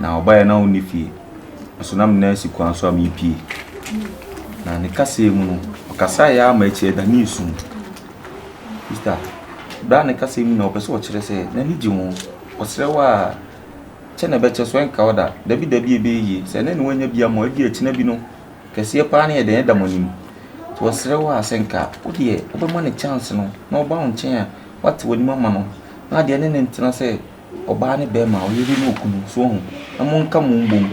na ɔbaeɛ no na ɔnni fie, nso na me nan si kwan so a merepue. Na ne kaseɛ mu no, ɔkasaeɛ ara ma akyi ɛda ne resu. Sista, berɛ a ne kaseɛ mu na ɔpɛ sɛ ɔkyerɛ sɛ n'ani gye ho, ɔsrɛ wo a, kyɛ na ɛbɛkyɛ so ɛnka wo da, dabi dabi ɛbɛyɛ yie, sɛ ɛnnɛ na woannya bi ama wo, ebia ɛkyena bi no, kɛseɛ paa ne yɛ dɛn ɛda mo anim. Nti ɔsrɛ wo a, sɛ nka wo deɛ wobɛma no chance no na ɔba wo nkyɛn a, woate w'anim ama no, na adeɛ ne no ntena sɛ, ɔbaa ne bɛɛma, ɔyere ne okunu. So wɔn na mo nka mo mbom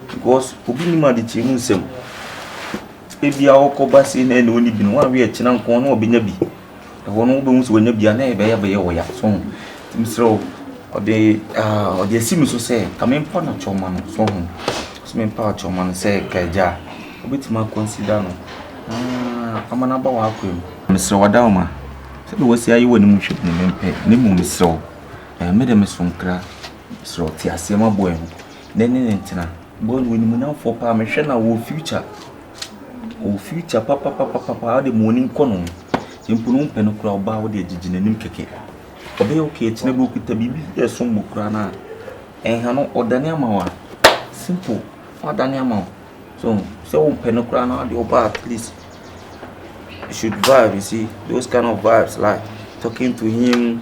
because obi nim adekyerɛ mu nsɛm. Ebi a ɔkɔ ba se na ɛna ɔni bi no wɔn awie kyena nko na ɔbɛnya bi. Ɛhɔ no wobɛhu sɛ wɔnya bi a na ɛbɛyɛ bɛyɛ ɔya so wɔn. Mesrɛ wo ɔde ah ɔde asi me so sɛ ka me mpa na kyɛw ma no so wɔn. Ɔse me mpa kyɛw ma no sɛ ka agya a ɔbɛtumi a consider no na ama no aba wɔ akwan mu. Mesrɛ wo Adaoma sɛdeɛ wɔasi ayɛ wɔ anim hwɛ bi no me mpɛ na mmom mesrɛ wo Me de meso nkra srɛ ɔteaseɛ ma boy no na ɛne no ntena. Boy no w'animuonyamfoɔ paa mehwɛ no a ɔwɔ future ɔwɔ future papapapapaa wode ma w'anim kɔ no sɛ mpo no wompɛ no koraa ɔbaa wode agyegye n'anim kɛkɛ ɔbɛyɛ okay akyinɛ berɛ ɔkuta biribi bi a ɛsom bo koraa no a nha no ɔdane ama wo a simple wadane ama wo so sɛ wompɛ no koraa no wode ɔbaa at least you should vibe you see those kind of vibes like talking to him.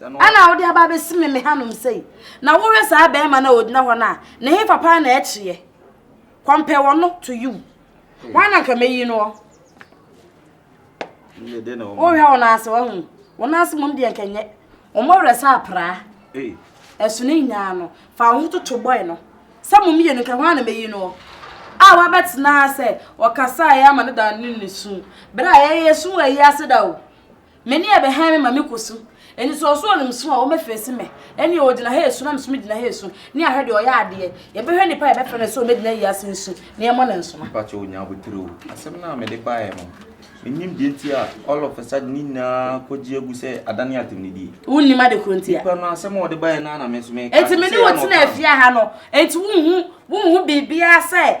Ɛna wode aba abɛsi me me hanom sei, na wohwɛ saa bɛrima no a ɔgyina hɔ no a, ne hefa paa na ɛkyeɛ? Compare ɔno to you. Wɔn na nka mɛyi no hɔ. Wohwɛ wɔn ase wɔn wɔn ase mmom deɛ nka nyɛ. Wɔn awerɛ sɛ apraa. Ɛso ne nyinaa no, fa wo ho toto bɔe no. Sɛ mo mmienu nka wɔn na mɛyi no hɔ. A wabɛtena sɛ ɔkasaeɛ ama no da ne ne su. Berɛ a yɛyɛ su wɔ ayi ase da o. M'ani a ɛbɛhan me ma mekɔ su. Anisoɔsoɔ a ɔnim sum a wɔmɛfeesi me. Ɛnneɛ ɔgyina ha resu na me nso megyina ha resu. Ne ahwɛ deɛ ɔyɛ adeɛ. Yɛbɛhwɛ nipa a yɛbɛfrɛ no sɛ ɔmmɛgyina wiase nsu na yɛmmɔ no nsoma. Mepa kyɛw nya abotire o. Asɛm no a mede baeɛ no, mennim deɛ nti a all of a sudden ne nyinaa kɔgye agu sɛ adane atemnidie. Wonnim ade korɔ nti a. Nipa no asɛm a ɔde baeɛ no ara na me nso meka. Enti me ne wo tena afie ha no, enti wonhu wonhu biribiara sɛ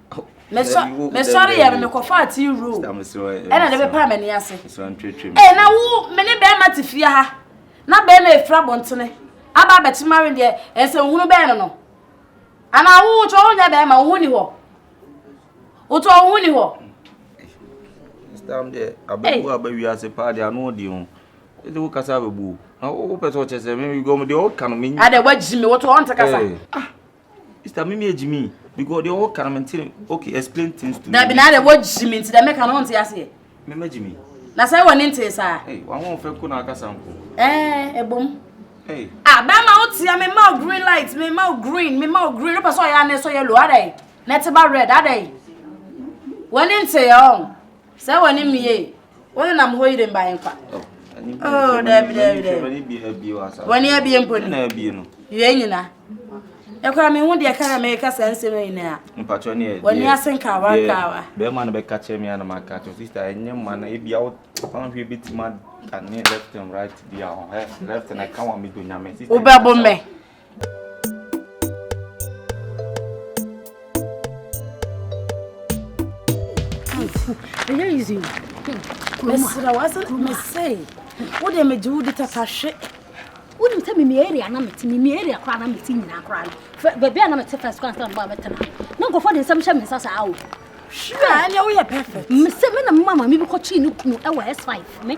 mesɔre yɛ no mekɔfaa tea room ɛna de bɛpaa m'ani ase ee na wo me ne bɛrima te fie ha na bɛrima efiri abɔntene aba abɛkye ma wen deɛ ɛsɛ nhunu bɛn no no anaa wo wotɔ wo nyɛ bɛrima wo ho ni hɔ wotɔ wo ho ni hɔ. stam deɛ abɛbu aba wiase paa deɛ ano ɔdi ho ɛdi wo kasa abɛbu na wo pɛ sɛ ɔkyɛ sɛ me gɔm deɛ ɔka no me. adɛ wagyi me wotɔ ɔnte kasa. ah Mister Mimi e Jimmy because deɛ ɔwɔ kan mente okay explain things to me. Dabi na adɛ wɔ Jimmy nti dɛ mɛka no ɔnte aseɛ. Mema Jimmy. Na sɛ wɔ ne nte saa. Ee wɔn ho fɛ ko na akasa nko. Ɛɛ ebom. Ee. Ah bɛrima wo tia me ma green light me ma green me ma green wopɛ sɛ ɔyɛ anɛ sɛ ɔyɛ low adɛ na ɛte ba red adɛ wɔ ne nte yɛ ɔn. Sɛ wɔ ne mmie wo ne nam hɔ yire mba yɛn kwa. Oh, dɛbi dɛbi dɛbi. Wɔ ne abie mpo ni. Yɛ nyina. Ɛkora me ho deɛ ka na mɛka saa nsɛm nyinaa. Mpatwɔ ne yɛ. Wɔ ne ase nkawa nkawa. Bɛrima no bɛka kyerɛ me anam aka kyerɛ sista ɛnyɛ ma na ebi awo fan hwɛ bi ti ma ka ne left and right bi a ɔhɛ left na ɛka wɔn mi do nyame. Wobɛbo mɛ. ɛyɛ easy mesrɛ wase mesei wo deɛ megye wo di tatahwe wonim sɛ mimi area na mete mimi area koraa na mete nyinaa koraa no baabi a na mete first koraa sɛ mba mɛtena na nkɔfoɔ de nsɛm hyɛ me nsa saa o ɛneɛ woyɛ perfect mesɛ me na mema ma mebɛkɔkyee ne kunu ɛwɔ s5 me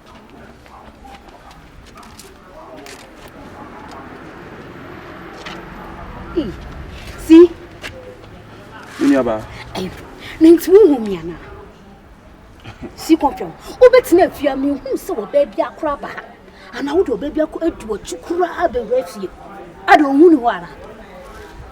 See? Me nuabaa. Na nti wohu me anaa? Si kɔmfɛm. Wobɛtena afie a mehu sɛ ɔbaa bi akora ba ha. Anaa wode ɔbaa bi akɔ adi w'akyi koraa bɛwura fie. Ada ɔhu ne hɔ anaa?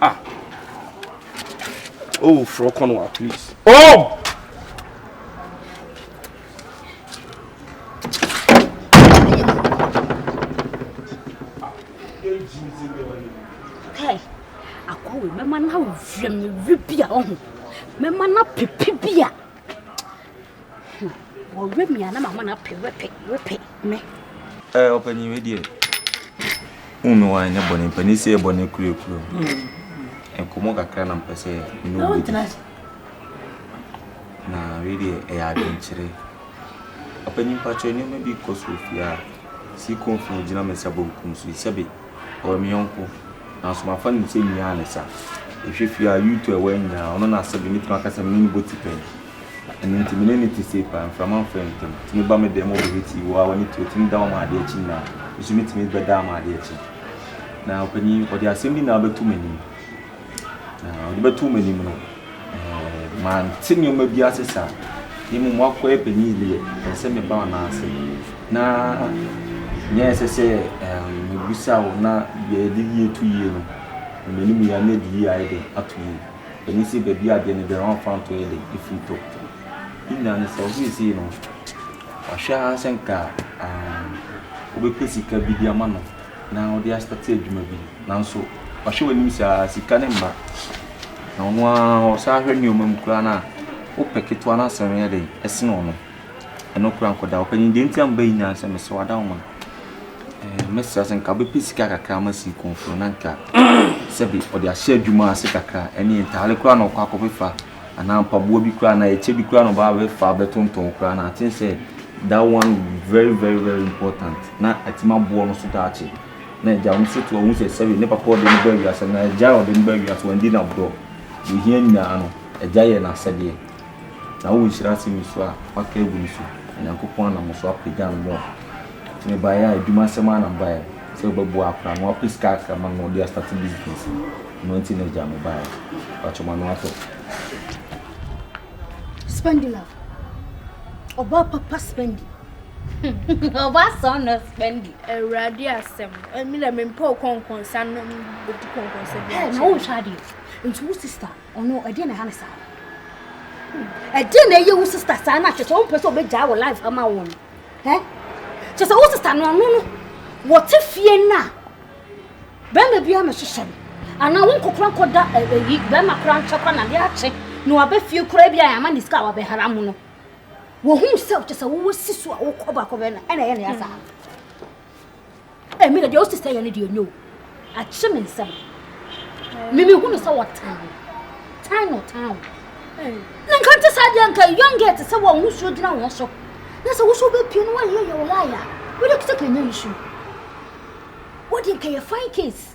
Ah. Oh, frɔ kɔ no wa please. Oh! mɛma no awerɛ mmerɛ bi a ɔho mɛma no apepe bi a Hum wɔwerɛ me a na mama no apɛ wɛpɛ wɛpɛ me. Ɛɛ ɔpanyin wei deɛ wohu me wan ne bɔne mpanin sɛ yɛ bɔne kurakura mu nkɔmmɔ kakra na mpɛ sɛ ne wo bɛdi na wei deɛ ɛyɛ adwenkyerɛ ɔpanyin mpakyɛ nneɛma bi kɔ so fie a si kɔ mfie gyina me nsa bonkum so sɛbe ɔyɛ me yɔnko nanso mafa no sɛ nyaa ne sa ɛhwɛ fie a yuto ɛwɔ nyinaa ɔno na asɛbe mɛtumi aka sɛ mene ne bɔti pɛn Ɛno nti me ne no te sei paa, mframa mfrɛ yɛn ntam. Tumi ba me dan mu bɛhit yi, woaa w'ani to, tumi da wɔ m'adeɛ akyi nyinaa. Me nso metumi bɛda wɔ m'adeɛ akyi. Na ɔpanin, ɔde asɛm bi na abɛto m'anim. Na ɔde bɛto m'anim no, ɛɛ, mante nneɛma bi ase saa. Ne mmom wakɔyɛ panin deɛ, ɛsɛ sɛ meba wo nan ase. Na nyɛ ɛsɛ sɛ ɛɛm mebisa wo na deɛ yɛde yie to yie no, na m'anim yɛ na ɛde yie ayɛ dɛ ato yie. Emi se beebi a deɛ ne bɛrima mfanto yɛ den efiri tɔ. Ne nyinaa no sɛ wo seesei no wahwɛ ara sɛ nka um, wobɛpɛ sika bi de ama no na wode astate adwuma bi nanso wahwɛ w'anim saa sika ne mma na ɔno ara ɔsan hwɛ nneɛma mu koraa no a wopɛ ketewa no asɛn yɛ den ɛsene ɔno. Ɛno kura nkɔ da. Ɔpanyin deɛ nti a mobɛyi nyaa sɛ mesɛ wada wo ma. Ɛɛ mɛsrɛ sɛ nka bɛpɛ sika kakra ma sii kɔnforo na nka sɛbi ɔde ahyɛ adwuma ase kakra ɛne ntaare kura na ɔkɔ akɔbɛfa anaa mpaboa bi kura na ɛkyɛ bi kura na ɔba abɛfa abɛtontɔn kura na aten sɛ that one very very very important na atumi aboɔ no so daakye na agya wɔn so to ɔmo sɛ sɛbi ne papa ɔde ne ba awiase na agya ɔde ne ba awiase wɔn di na borɔ deɛ ohia nyinaa no agya yɛ n'asɛdeɛ. Na wo nhyira sen nsu a wɔaka agu no so, na Nyankopɔn nam wo so apagya no more. Nti mebaeɛ a, adwuma asɛm ara na mebaeɛ, sɛ wobɛboa akora no, wapɛ sika kakra ma no na ɔde astarte business. Ɛno nti na agya mebaeɛ. Mpakyɛ m'ano atɔ. Spendi love. Ɔbaa papa spendi. Ɔbaa sɔn no spendi. Awurade asɛm. Ɛmi na mempɛ ɔkɔnkɔnsa no bɛdi kɔnkɔnsa bi. Hey, na wohwɛ adeɛ. Nti wo sister Ɔno ɛdeɛ na ɛha ne saa. Ɛdeɛ na ɛyɛ wo sista saa na kyerɛ sɛ ɔmpɛ sɛ ɔbɛgyaa wɔ life ama wo no. Ɛ? Kyerɛ sɛ wo sista no ɔno no wɔte fie no a bɛrima biara mɛhyehyɛ no anaa wo nkokora nkɔda ɛyi bɛrima koraa nkyɛ koraa na de akye na wabɛ fie koraa bi a ama ne sika a wabɛhara mu no. Wɔhu sɛ kyerɛ sɛ wowɔ si so a wokɔ baakɔ bɛn na ɛna ɛyɛ ne ya saa. Ɛmi na deɛ ɔsi sɛ yɛ no deɛ nyɛ o. Akye me nsɛm. Mimi hu no sɛ ɔtan wo. Tan na ɔtan wo. Na nka nte saa deɛ nka young girl te sɛ wɔn ho suo gyina wɔn so. Na sɛ woso bɛpie no wɔyɛ yɛ wɔn ayɛ a. Wode kete kanyɛ nsu. Wode nka yɛ fine case.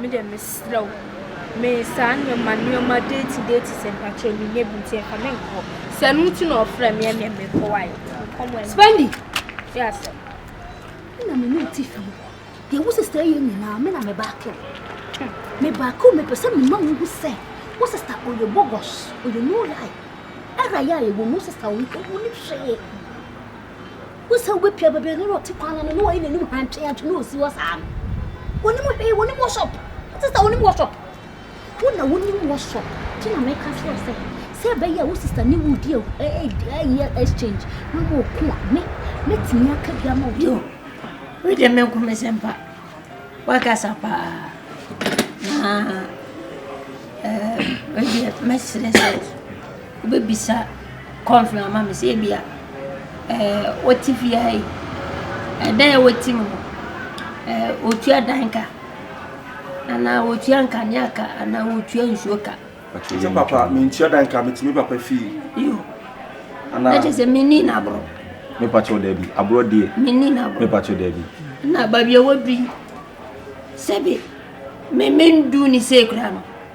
Me deɛ mesrɛ wo, me saa nneɛma nneɛma deeti deeti sɛ mpakyɛ me nyɛ bi nti nka me nkɔ. Sɛ no nti na ɔfrɛ me ɛne me kɔ wae. Spendi. Yɛ asɛ. Na me ne ti fam kɔ. Deɛ wo sista yɛ nyinaa me na me baako. Me baako me pɛ sɛ me ma wo hu sɛ wo sista ɔyɛ bogos ɔyɛ no lie. Ɛra yɛ a yɛ wɔ no sista wo ne hwee. Wohu sɛ wobɛpia babiani no a ɔte kwan no ano na wayɛ n'anim hantweantwe na ɔsi hɔ saa no. Wonim hwee, wonim worship. Wote sɛ wonim worship. Wo na wonim worship. Nti na meka kyerɛ wo sɛ, sɛ ɛbɛyɛ a wo sista ne wo di ɛyɛ exchange na moɔko a, me, mɛtumi aka bi ama wo. Yo, wei deɛ me nko me sɛ mpa. Wakasa paa. Na, ɛɛ, wei deɛ mɛsrɛ sɛ. Wobɛbisa kɔmfin ama me sɛ ebia ɛɛ wɔte fie ha yi ɛdan a wɔte mu no ɛɛ wɔtua dan ka anaa wɔtua nkanea ka anaa wɔtua nsuo ka. Sɛ papa mentua dan ka metumi papa fie. Yo. Anaa. Ɛkyɛ sɛ menni na aborɔ. Mepa kyɛw daabi aborɔ deɛ. Menni na aborɔ. Mepa kyɛw daabi. Na baabi a wɔdu yi sɛbi me mendu ne sei koraa no.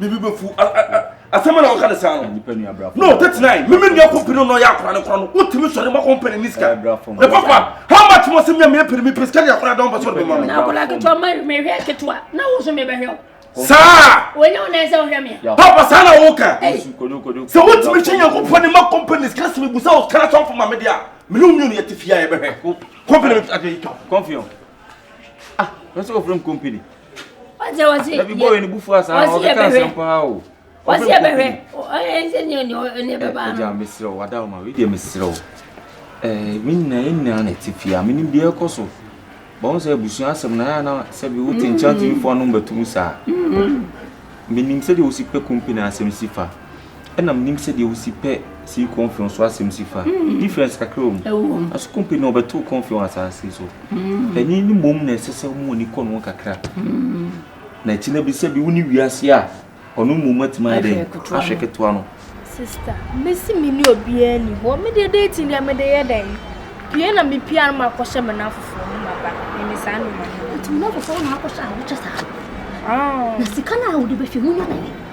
bibi bɛ fu asɛm na wɔka ne saa no no tete nan meme nua kɔmpi no na ɔyɛ akora no korɔ no wotumi sɔre ma kɔmpani ne sika ne papa how much mo sɛ mea meyɛpere me pɛ sika de akora dɔm bɛ sɔre bɛma me saa papa saa na woka sɛ wotumi hyɛ nyankopɔn ne ma kɔmpani sika sɛ mebu sɛ wokra sɔmfo ma mede a mene wo mmienu yɛte fie a yɛbɛhwɛ kɔmpani bɛtwa kɔmfi ɔ ɛsɛ wɔfrɛ m kɔmpani ɔsɛ ɔsɛ yɛ ɛbi bɔyɛ ne bu fua saa ɔsɛ yɛ bɛhwɛ ɔsɛ yɛ bɛhwɛ ɔyɛ nsɛ ne ɔne ɔne bɛba ano ɛgya mesrɛ wo wada ɔma wei deɛ mesrɛ wo ɛɛ me nyina yɛ nyina na ɛte fie a me nim deɛ ɛkɔ so bɔn sɛ abusua asɛm na yɛ ana sɛ bi wote nkyɛn tumi fo anom bɛtum saa me nim sɛ deɛ wosi pɛ company asɛm si fa ɛna menim sɛ deɛ wosi pɛ si kɔnfɛn so asɛm si fa mm. difference kakra wɔ mu aso kɔmpe na ɔbɛto kɔnfɛn wɔ asase so mm. ɛne ne mmom na ɛsɛ sɛ wɔn ani kɔ no kakra mm. na akyi na bi sɛ bi wo ne wiase a ɔno mmom atumi ayɛ dɛ ahwɛ ketewa no sista mesi me ne obiara ni hɔ me deɛ dating deɛ mede yɛ dɛn pie na mepia no makɔhyɛ me no afoforɔ no maba meme saa nnoma no nti me no afoforɔ na akɔhyɛ a wokyɛ saa na sika no a wode bɛhwɛ wonya bɛyɛ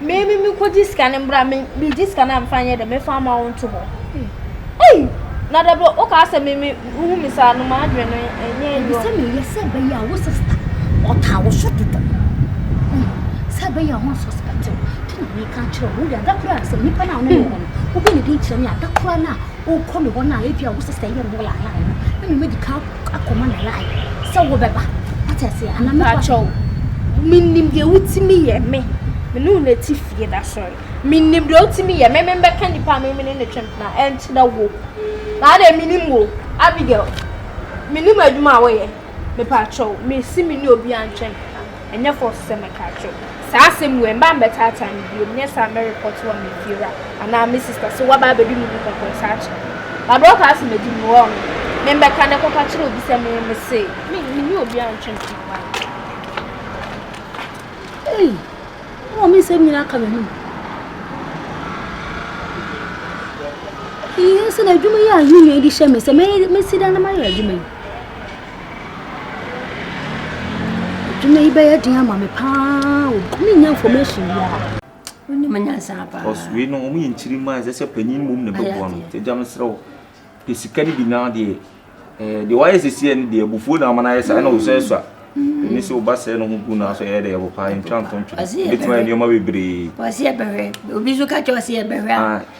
meme mekɔgye sika no mbra megye sika no a mefa nyɛ dɛ mefa ama wo nto hɔ ei na dɛ bɛ wokaa sɛ meme wohu me saa no maadwene no ɛnyɛ yɔ sɛ meyɛ sɛ bɛyɛ a wo sista ɔtaa wo so dodo sɛ bɛyɛ a ho suspect wo nti na meka kyerɛ wo wode ada koraa sɛ nnipa no a wone ne hɔ no wobɛ ne din kyerɛ me ada koraa no a wokɔ ne hɔ no a ebi a wo sista yɛ no wɔ laayaa no na memɛdi ka akɔma ne line sɛ wobɛba wate aseɛ ana mepakyɛw menim deɛ wotumi yɛ me mene wo nati fie da sɔre menim deɛ wotumi yɛ me membɛka nipa a memene ne twɛm na ɛnkyerɛ wo na adɛ menim wo abigail menim adwuma a woyɛ mepakyɛw mesi me ne obi antwɛm Ɛnyɛ fɔ sɛ mɛka akyerɛ wo saa asɛm wei mma mmɛtaataa me biom nyɛ saa mɛ report wo ama efiewura anaa me sister sɛ waba abɛdi me ho kɔkɔɔ saa kyɛ na berɛ ɔkaa sɛ mɛdi mu hɔ no me mbɛka ne kɔka kyerɛ obi sɛ me me se me ne obi antwe me ho why Ei, ama me nsɛm nyina aka me ho Iyi nso na adwuma yi a me nua yi de hyɛ me sɛ mɛsi dan na mayɛ adwuma yi Adwuma yi bɛyɛ den ama me paa o. Ntumi nya information biara. Wonim nyansa paa. Ɔs wei no wɔn yɛ nkyiri mmaa ɛsɛ sɛ panyin mmom na ɛbɛboa no. Nti agya mesrɛ wo pɛ sika no bi na deɛ ɛɛ deɛ wayɛ sɛsiɛ no deɛ abufuo na ama no ayɛ saa ɛna wosuasua. Ɛne sɛ woba sɛɛ no ho gu no aso ɛyɛ dɛ ɛbo paa yɛntwa nto ntwene. Ɛbɛtumi ayɛ nneɛma bebree. Wɔse yɛbɛhwɛ. Obi nso ka kyerɛ wo sɛ yɛbɛhwɛ a.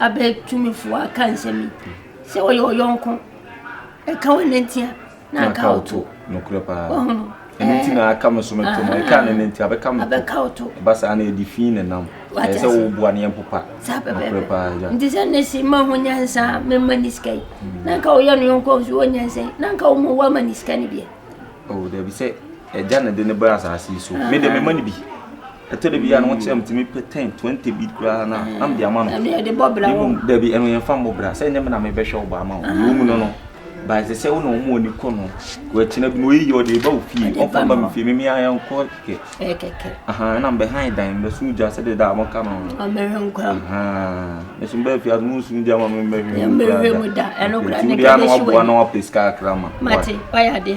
Abɛ tumifo a ka nsɛm yi, sɛ ɔyɛ ɔyɔnko, ɛka wo nanti a, na nka wo to. Nokorɛ paa. Wahu no. Ɛno nti na aka me so me to no, ɛka ne nanti abɛka me to. Abɛka wo to. Ɛba saa na ɛde fi ne nam. Ɛyɛ sɛ wo boa ne ɛmpopa. Saa pɛpɛɛpɛ. Nokorɛ paa agya. Nti sɛ ne si ma ho nyansa me ma ni sika yi, mm. na nka ɔyɛ no yɔnko nso wɔ nyansa yi, na nka wo mu wama ne sika ne biɛ. Oh, dabi sɛ ɛgya na de ne bra asase yi so. Me de me ma ne bi. ɛtɔ da bi a na wɔkyerɛ me tumi pɛ ten twenty bi koraa na na mede ama no ɛne ɛde bɔ bra na wɔ mmom dabi ɛno yɛmfa mmɔ bra sɛ ɛnyɛ me na mebɛhwɛ wo ba ama wo ɛwɔ mu no no ba ɛsɛ sɛ wo na ɔmo ani kɔ no wɔakyina bi na ɔyɛ yie ɔde ɛba wo fie Ɛde ba ɔmfa ba ma me wo. fie meme ayɛ nkɔ kɛkɛ ɛyɛ kɛkɛ aha ɛna mbɛhan dan mbɛso gya sɛdeɛ da a mɔka no no ɔmmɛhwɛ nkora mu aha ɛso mbɛɛ fie ase monso gya ma me mbɛhwɛ Yɛmmɛhwɛ mu da, ɛno koraa nti ne wodeɛ a na kɛbɛhye waboa w'ani. na wapɛ sika kakra ma mate wayɛ adeɛ